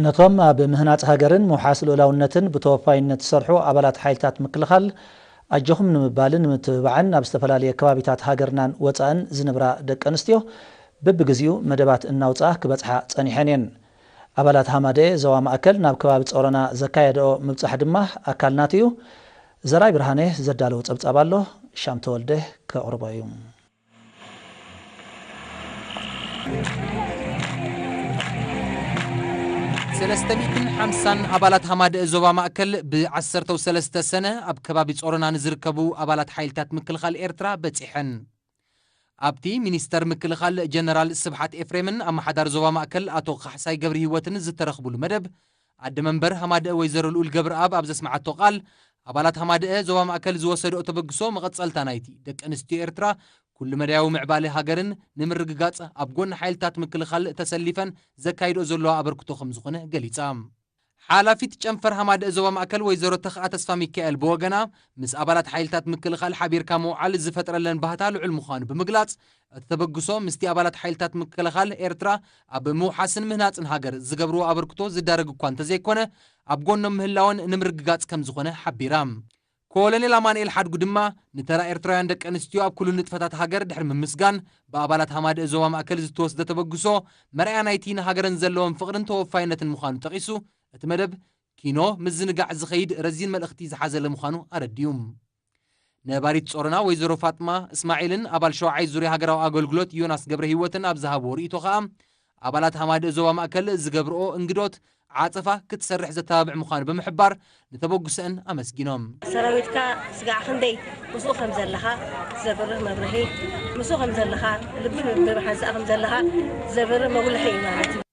ነቶም ኣብ ምህናጽ ሃገርን ምውሓስ ልኡላውነትን ብተወፋይነት ዝሰርሑ ኣባላት ሓይልታት ምክልኻል ኣጆኹም ንምባልን ንምትብባዕን ኣብ ዝተፈላለየ ከባቢታት ሃገርናን ወጻእን ዝንብራ ደቂ ኣንስትዮ በብግዚኡ መደባት እናውጽኣ ክበጽሓ ጸኒሐን እየን። ኣባላት ሃማደኤ ዞባ ማእከል ናብ ከባቢ ጾሮና ዘካየደኦ ምብጻሕ ድማ ኣካል ናቱ እዩ። ዘርኣይ ብርሃነ ዘዳለዎ ጸብጻብ ኣሎ። ሻም ተወልደ ከቕርቦ እዩ። ሰለስተ ሚእትን ሓምሳን ኣባላት ሃማደኤ ዞባ ማእከል ብ ዓሰርተው ሰለስተ ሰነ ኣብ ከባቢ ጾሮና ንዝርከቡ ኣባላት ሓይልታት ምክልኻል ኤርትራ በጺሐን። ኣብቲ ሚኒስተር ምክልኻል ጀነራል ስብሓት ኤፍሬምን ኣማሓዳሪ ዞባ ማእከል ኣቶ ካሕሳይ ገብርሂወትን ዝተረኽቡሉ መደብ፣ ኣደ መንበር ሃማደኤ ወይዘሮ ልኡል ገብረኣብ ኣብ ዘስመዓቶ ቃል፣ ኣባላት ሃማደኤ ዞባ ማእከል ዝወሰድኦ ተበግሶ መቐጸልታ ናይቲ ደቂ ኣንስትዮ ኤርትራ ኩሉ-መዳያዊ ምዕባሌ ሃገርን ንምርግጋጽ ኣብ ጎኒ ሓይልታት ምክልኻል ተሰሊፈን ዘካይድኦ ዘለዋ ኣበርክቶ ከምዝኾነ ገሊጻ። ሓላፊት ጨንፈር ሃማደኤ ዞባ ማእከል ወይዘሮ ተኽኣ ተስፋሚካኤል ብወገና፣ ምስ ኣባላት ሓይልታት ምክልኻል ሓቢርካ ምውዓል ዝፈጥረለን ባህታ ልዑል ምዃኑ ብምግላጽ፣ እቲ ተበግሶ ምስቲ ኣባላት ሓይልታት ምክልኻል ኤርትራ ኣብ ምውሓስን ምህናጽን ሃገር ዝገብርዎ ኣበርክቶ ዝዳረግ እኳ እንተዘይኮነ፣ ኣብ ጎኖም ምህላወን ንምርግጋጽ ከምዝኾነ ሓቢራ። ኮሎኔል ኣማንኤል ሓድጉ ድማ ንተራ ኤርትራውያን ደቂ ኣንስትዮ ኣብ ኩሉ ንጥፈታት ሃገር ድሕሪ ምምስጋን፣ ብኣባላት ሃማደኤ ዞባ ማእከል ዝተወስደ ተበግሶ መርኣያ ናይቲ ንሃገረን ዘለወን ፍቕርን ተወፋይነትን ምዃኑ ጠቒሱ፣ እቲ መደብ ኪኖ ምዝንጋዕ ዝኸይድ ረዚን መልእኽቲ ዝሓዘለ ምዃኑ ኣረዲኡ። ነባሪት ጾሮና ወይዘሮ ፋጥማ እስማዒልን ኣባል ሸውዓይ ዙርያ ሃገራዊ ኣገልግሎት ዮናስ ገብረሂወትን ኣብ ዝሃብዎ ርእይቶ ከኣ፣ ኣባላት ሃማደእ ዞባ ማእከል ዝገብርኦ እንግዶት ዓጸፋ ክትሰርሕ ዘተባብዕ ምዃኑ ብምሕባር፣ ንተበግሶኣን ኣመስጊኖም። ሰራዊትካ ስጋዕ ክንደይ ምስኡ ከም ዘለኻ ዘብርህ መብርሂ፣ ምስኡ ከም ዘለኻ ልቢ ንምብርሃን ስኣ ከም ዘለኻ ዘብርህ መጉልሒ እዩ ማለት እዩ።